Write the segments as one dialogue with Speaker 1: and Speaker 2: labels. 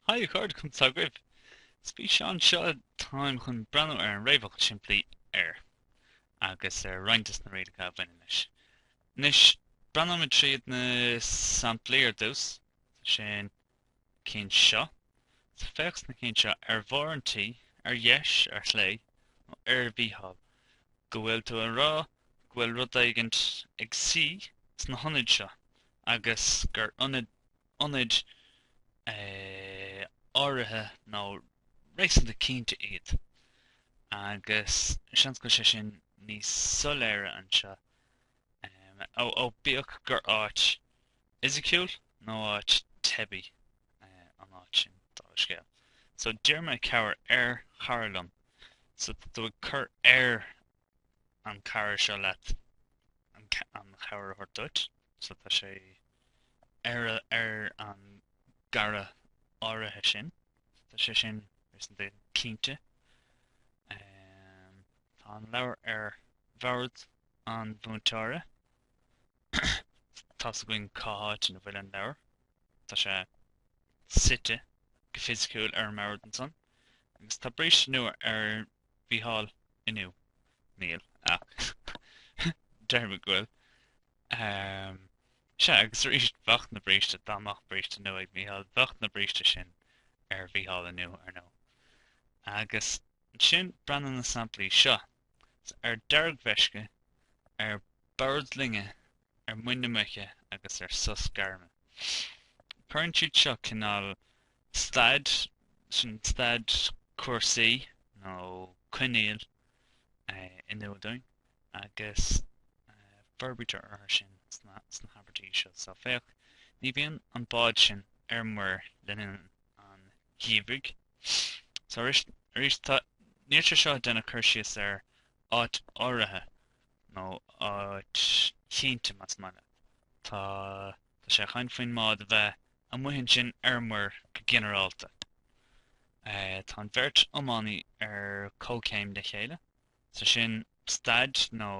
Speaker 1: Haigh a chairde, conas atá agaibh! Sa bhfíseán seo táim chun breathnú ar an réamhfhocal simplí 'ar' agus ar roinnt de na rialacha a bhaineann leis. Anois breathnóimid tríd na samplaí ar dtús. Sna cinn seo. So, féach sna cinn seo, ar bharr an tí, ar dheis, ar chlé, nó ar Mhícheál, go bhfuil tú ag rá go bhfuil rud éigin ag suí sna hionaid seo agus gur ionad ionaid áirithe nó réasúnta cinnte iad, agus seans go bhfuil sé sin níos soiléire anseo, ó bíodh gur áit fhisiciúil nó áit teibí an áit sin, dála scéil. So, d'iarr mé cabhair ar chara liom, so tá tú ag cur air an cara seo leat an an chabhair a thabhairt duit. So tá sé ar a ar an gcara áirithe sin. Tá sé sin réasúnta cinnte. Tá an leabhar ar bhord an mhúinteora. Tá's againn cá háit ina bhfuil an leabhar. Tá sé suite go fisiciúil ar an mbord ansan. Agus tá bríste nua ar Mhícheál inniu? Níl, ach deirim go bhfuil. Sea, agus arís, bheadh na bríste, dá mbeadh bríste nua ag Mícheál, bheadh na bríste sin ar Mhícheál inniu, ar ndóigh. Agus ansin breathnaigh ar na samplaí seo, ar deargmheisce, ar bord loinge, ar muin na muice agus ar sos gairme. Cuireann siad seo cineál Staid, sin staid cúrsaí nó coinníoll in iúl dúinn, agus forbraítear orthu sin sna habairtí seo. Só, féach, ní bhíonn an bád sin ar muir le linn an gheimhridh. Só, arís, tá, níl sé seo ag déanamh cur síos ar áit áirithe nó áit chinnte, más maith leat. Tá. Tá sé ag caint faoin mbád a bheith amuigh ansin ar muir go ginearálta. Tá an bheirt iománaí ar comhchéim le chéile, so sin staid nó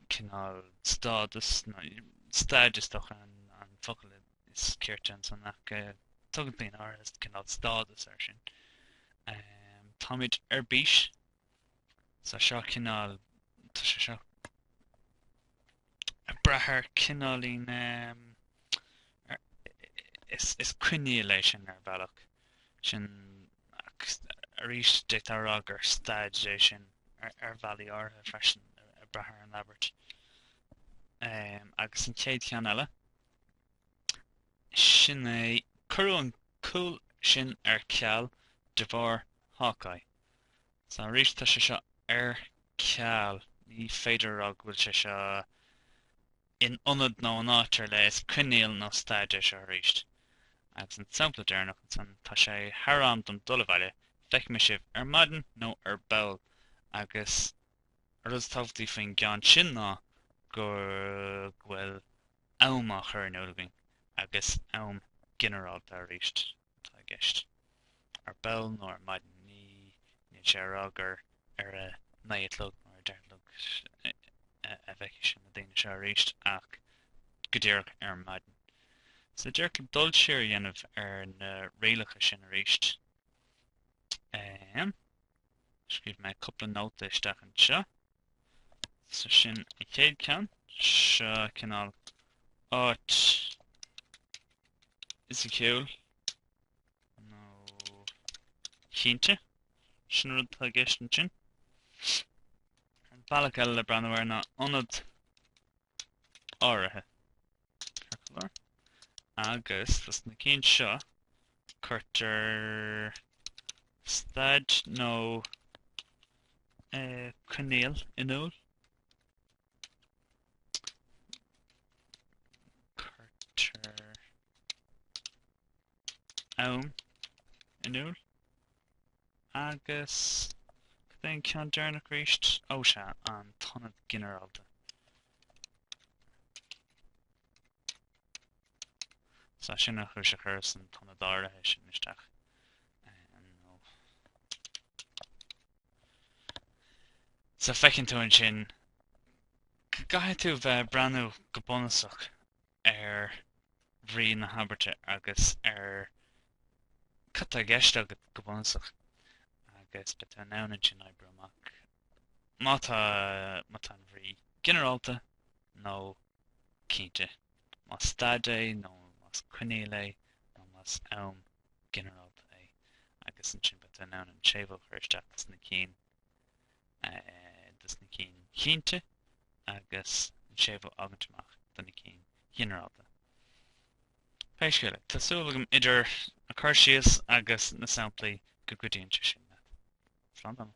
Speaker 1: cineál stádas, nó staid is dócha an focal is cirte ansan ach tugann daoine áirithe cineál stádas air sin. Táimid ar bís. Tá seo cineál, tá sé seo ag brath ar cineálín, is coinníoll é sin ar bhealach, sin arís d'fhéadfá rá gur staid é sin ar bhealaí áirithe freisin ag brath ar an abairt. Agus an chéad cheann eile, sin é cuireadh an cúl sin ar ceal de bharr Hawkeye. So, arís tá sé seo ar ceal. Ní féidir a rá go bhfuil sé seo in ionad nó in áit ar leith, is coinníoll nó staid é seo arís. Agus an sampla deireanach ansan, tá sé thar am dom dul abhaile, feicfidh mé sibh ar maidin nó ar ball. Agus an rud is tábhachtaí faoin gceann sin ná go bhfuil am á chur in iúl againn, agus am ginearálta arís. atá i gceist. Ar ball nó ar maidin ní, níl sé a rá gur ar a naoi a chlog nó ar a deich a chlog a fheicfidh sé na daoine seo arís ach go díreach ar maidin. So díreach le dul siar a dhéanamh ar na rialacha sin arís. Um, Scríobh mé cúpla nóta isteach anseo. So sin an chéad ceann. Seo cineál áit fhisiciúil nó chinnte. Sin an rud atá i gceist ansin. An bealach eile le breathnú air ná ionad áirithe. circular, agus dos na cinn seo cuirtear staid nó coinníoll in iúl. Cuirtear am in iúl. Agus cad é an ceann deireanach arís? Ó sea, an t-ionad ginearálta. So, sin an chúis a chuireas an t-ionad áirithe sin isteach. So, feiceann tú ansin, go gcaithfidh tú bheith ag breathnú go bunúsach ar bhrí na habairte agus ar cad tá i gceist agat go bunúsach agus beidh tú in ann ansin oibriú amach má tá má tá an bhrí ginearálta nó cinnte más staid é nó más coinníoll é nó más am ginearálta é agus ansin beidh tú in ann an séimhiú a chur isteach dos na cinn dos na cinn chinnte agus an séimhiú a fhágaint amach dos na cinn ghinearálta. Pé scéal é, tá súil agam idir an cur síos agus na samplaí go gcuidíonn sé sin leat. Slán tamall!